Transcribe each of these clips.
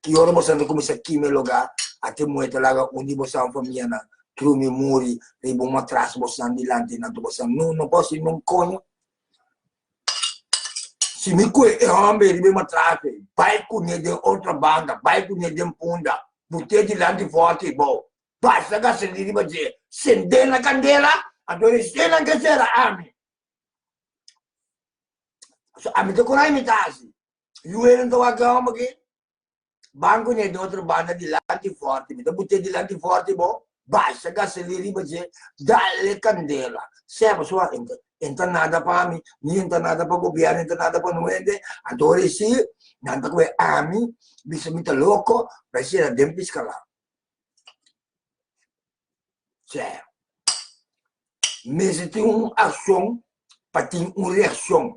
Ki ora bo santa kuminsá kime logá, a tin muerto laga un di bosan un famianan trumi muri riba un matras bosan dilanti di nantu bosan. No, no gosi nun koño. Si mi kue e homber riba e matras ei, bai kuné den otro banda, bai kuné den punda, but'é dilanti forti bo, basa gasolina riba dje, send'é na kandela, anto reshen nan ke sera ami. So, ami ta kura mi ta hasi. Luenan ta wak gama paké banco ne do otro banda dilanti forte mi ta bute dilanti forte bo basha gasolin riba dje dale candela seba sua enta enta nada pa mi ni enta nada pa gobierno enta nada pa no hende anto ora e sigue nan ta cohe ami bisa mi ta loco pa e sera den piscala. Sero. Mester tin un akshon pa tin un reakshon.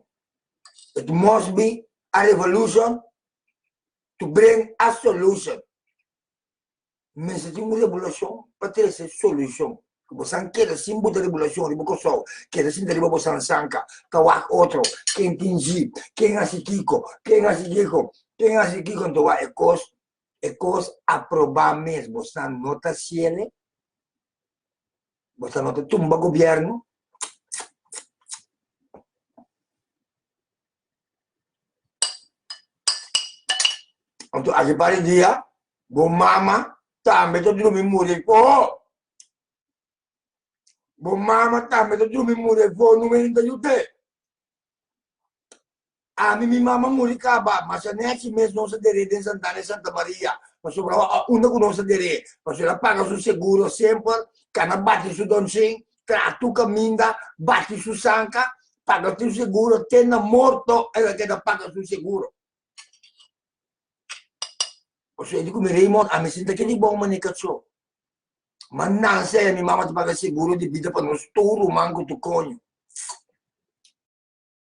It must be a revolution to bring a solution. Mester tin un rebolashon pa trese solushon. Si bo san keda sin bo rebolashon riba Kòrsou, keda sinta riba bo san sanka, ta wak otro, ken tin ji, ken hasi kiko, ken hasi kiko, ken hasi kiko, anto wak e kos e kos aprobá mes bosnan no ta ciele bosnan no ta tumba gobierno anto aki para e dia bo mama tambe ta drumi muri ey foho bo mama tambe ta drumi muri ey foho numero uno ta yute Ami mi mama muri kaba, mas aneki mes nos a der'é den Santana i Santa Maria, pasobra a unda ku nos a der'é, pasobra el a paga su seguro semper, kan a bati su dònsing, tra tur kaminda, bati su sanka, paga su seguro, te na morto el a keda paga su seguro. Por suerte ku mi rei mor, ami sinta aki di bon, mane kachó. Ma Nancy y mi mama ta paga seguro di bida pa nos tur ruman cu tu coño.